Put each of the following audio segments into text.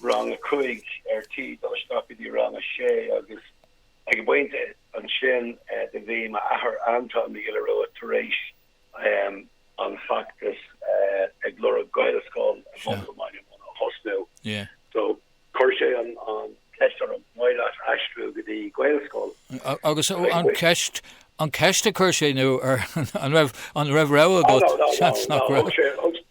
rang a cuig ar tí dul isteach go dtí rang a sé agus ag an bpointe sin do bhí m'athair Antaine Mac Giolla Ruaidh tar éis an feachtas ag lorg Gaelscoil i mBaile Munna a thosnú so chuir sé an ceist orm maidir le haistriú go dtí Gaelscoil agus an ceist an ceist a chuir sé nó ar an raibh an raibh rogha agat seans nach raibh sé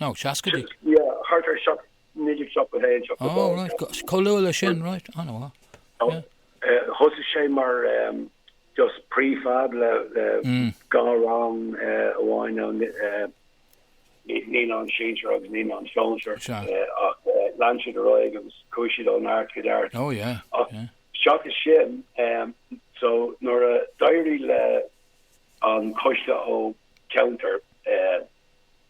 No, seascaidí. Yeah, thart ar seacht, 1971, 72. Oh, right, chomh luath le sin, right, ana mhaith. Oh, Yeah. eh, thosaigh sé mar, em, just pre-fab le, le Mm. dhá rang, eh, amháin ann, ni- eh, ni- naíonáin sinsear agus naíonáin sóisear, Sea. eh, ach, eh, lean siad ar aghaidh agus chuaigh siad ó neart go neart. Oh, yeah, Ach, yeah. seachas sin, em, so, nuair a d'éirigh le an coiste ó cheantar, eh,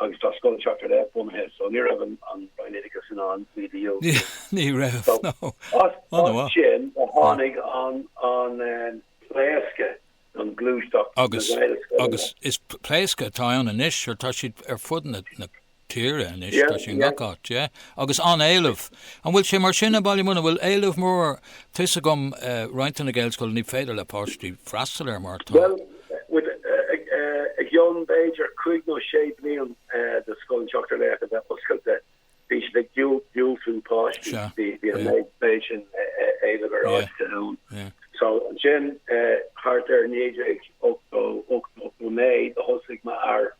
agus tá Scoil an tSeachtar Laoch bunaithe. So ní raibh an Roinn Oideachais in ann iad a dhiúltú. Ní raibh, no. Ansin a tháinig an pléascadh, an ghluaisteacht na Gaelscoileanna. Agus is pléascadh atá ann anois, tá siad ar fud na tíre anois, tá siad in gach áit, yeah, agus an-éileamh. An bhfuil sé mar sin i mBaile Munna, bhfuil éileamh mór? Tá 'fhios agam roinnt de na Gaelscoileanna ní féidir le páistí freastal air mar tá, I gcionn b'fhéidir cuig nó sé bliain de Scoil an tSeachtar Laoch a bheith oscailte bhí siad ag diúltú páistí, bhí an méid sin éilimh ar áiteanna ann. So ansin thart ar 1989 do thosaigh m'athair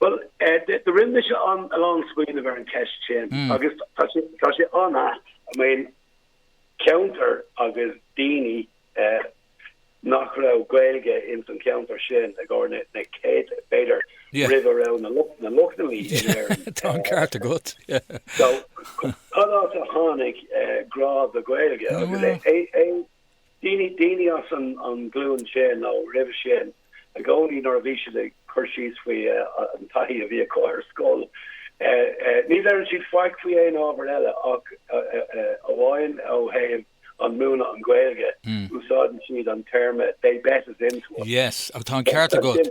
Bhuel, rinne mise a lán smaoineamh ar an ceist sin agus tá sé an-ait, I mean, ceantar agus daoine nach raibh Gaeilge ins an ceantar sin i gcomhair na céad, b'fhéidir, roimh a raibh na Lochlannaigh in Éirinn. Yeah, tá an ceart agat, yeah. So, cad as a tháinig grá don Ghaeilge? Bhuel, Mhínigh daoine as an nglúin sin, nó roimhe sin i gcónaí, nuair a bhí siad ag cur síos faoi an taithí a bhí acu ar scoil, ní deireann siad faic faoi aon ábhar eile ach amháin ó thaobh an múineadh an Ghaeilge, úsáideann siad an téarma 'they bet us into it'. Yes, ach tá an ceart agat.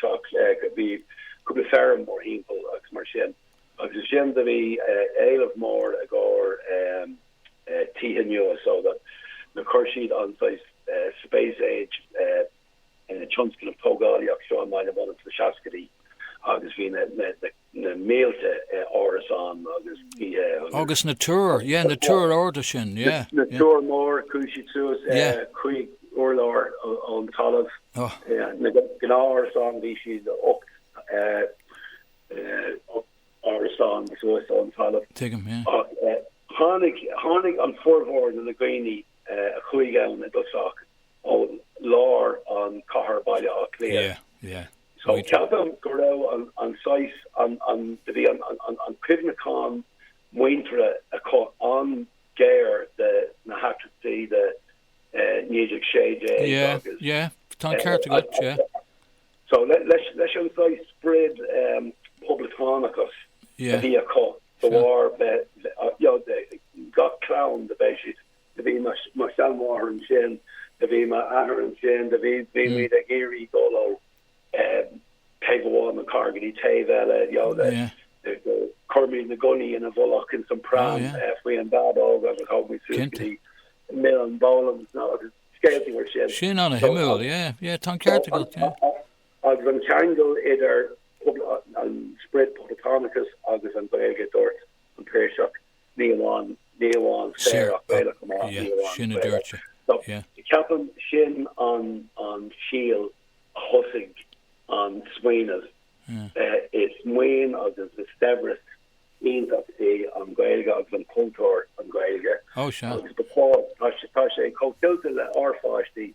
teach bhí cúpla feirm mór timpeall agus mar sin agus ansin do bhí éileamh mór i gcomhair tithe nua so ansin chuir siad an saghas space age tionscnamh tógálaíocht seo i mBaile Munna sna seascaidí agus bhí na na mílte árasán agus tithe agus. Agus na túir, yeah, na túir arda sin, yeah. Na túir móra, chuaigh siad suas cúig urlár ón talamh. Na gnáth-árasáin, bhí siad ocht árasán suas ón talamh. Tuigim, yeah. Ach tháinig, tháinig an formhór de na dhaoine a chuaigh ann i dtosach ó lár an cathair Baile Átha Cliath. Yeah, yeah. So ceapaim go raibh an saghas, do bhí an cuimhneachán muintire acu an-ghéar de na heachtraí de 1916 agus. Yeah, yeah, tá an ceart agat, yeah. So leis an saghas sprid poblachtánachas a bhí acu, de bharr gach clann do bheadh siad Do bhí mo sheanmháthair ansin, do bhí m'athair ansin, do bhí muid ag iarraidh dul ó taobh amháin an cathair go dtí taobh eile, you know, do chuir muid na gunnaí ina bhfolach ins an pram faoi an bhábóg agus thóg muid suas go dtí Muileann Boland's, you know, agus scéaltaí mar sin. Sin ana-shuimiúil, yeah, yeah, tá an ceart agat, yeah. Agus an ceangal idir an sprid poblachtánachais agus an Ghaeilge, dúirt an Piarsach, ní amháin, ní amháin saor ach Gaelach chomh maith, ní amháin Sin a dúirt sé, yeah. So ceapaim sin an an síol a thosaigh an smaoineamh is maoin agus is saibhreas iontach é an Gaeilge agus an cultúr an Gaeilge. Ó sea. Tá sé tá sé chomh tuillte le ár pháistí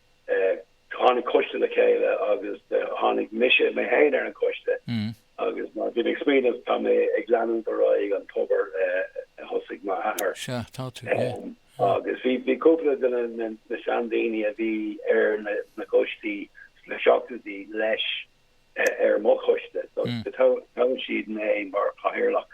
tháinig coiste le chéile agus tháinig mise mé féin ar an choiste agus mar a bhí mé ag smaoineamh, tá mé ag leanúint ar aghaidh an t-obair a thosaigh m'athair. Sea, tá tú, yeah. Agus bhí cúpla de na seandaoine a bhí ar na coistí sna seachtóidí leis ar mo choiste so toghadh siad mé mar chathaoirleach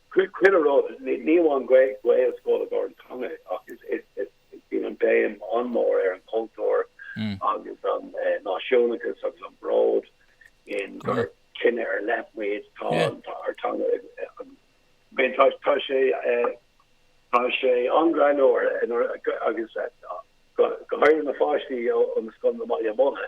Chuile rud, ní amháin Gaelscoil i gcomhair an teanga ach bíonn an béim an-mhór ar an chultúr agus an náisiúnachas agus an bród in gur cine ar leith muid, tá ár dteanga againn. Bhuel, tá sé, tá sé an-greannmhar agus go háirithe na pháistí ó na scoileanna i mBaile Munna,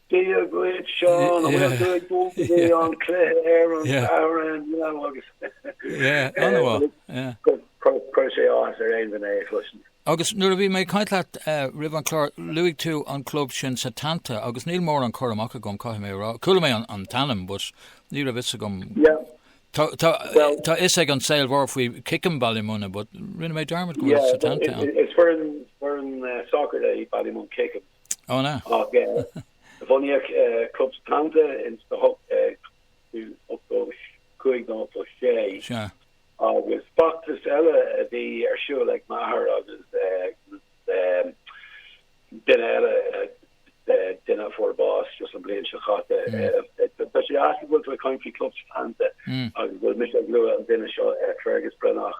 Dia dhuit Seán, an bhfuil tú ag dul ar an chluiche ar an Satharn inniu agus cuir sé áthas ar aon duine é a chloisint. Agus nuair a bhí mé ag caint leat roimh an clár, luaigh tú an club sin Setanta agus níl mórán cur amach agam caithfidh mé a rá. Chuala mé an t-ainm but ní raibh fhios agam. Tá fhios ag an saol mhór faoi Kickham Baile Munna but rinne mé dearmad go bhfuil Setanta ann. Is foireann soccer é Ballymun Kickham. Ach bhunaíodh Club Setanta in 1885 nó 86, agus feachtas eile a bhí ar siúl ag Maher agus duine eile, duine a fuair bás just an bhliain seo chaite. Tá sé deas go bhfuil tú ag caint faoi Club Setanta agus go bhfuil mise ag lua an duine seo, Fergus Breathnach.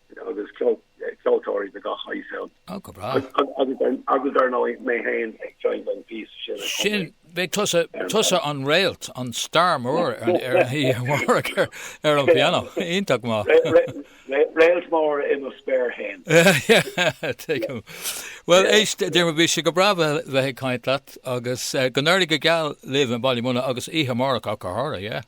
Agus ceoltóirí de gach saghas ann. Ó, go breá. Agus dar ndóigh, mé fhéin ag seinnt cúpla píosa. Sin. beidh tusa, tusa an réalt, an star mór oíche amárach ar, ar an piano. Iontach maith. Réalt mór i mo spéir fhéin. Tuigim. Bhuel, éist, Diarmuid, bhí sé go breá bheith, bheith ag caint leat agus go n-éirí go geal libh i mBaile Munna agus oíche amárach ach go háirithe, yeah?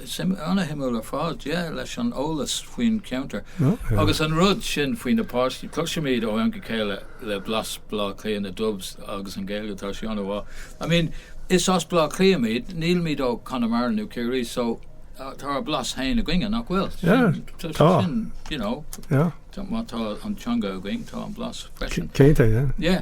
an-shuimiúil ar fad, yeah, leis an eolas faoin cheantar. Agus an rud sin faoi na páistí, cloisimid ó am go céile le blas Bhleá Cliath, na Dubs agus an Ghaeilge, tá sí an-mhaith. I mean, is as Bleá Cliath muid, nílimid ó Conamara nó Ciarraí, so tá ár blas féin againne, nach bhfuil? Yeah, tá. So sin, you know. Yeah. Má tá an teanga againn, tá an blas freisin. Cinnte, yeah. Yeah.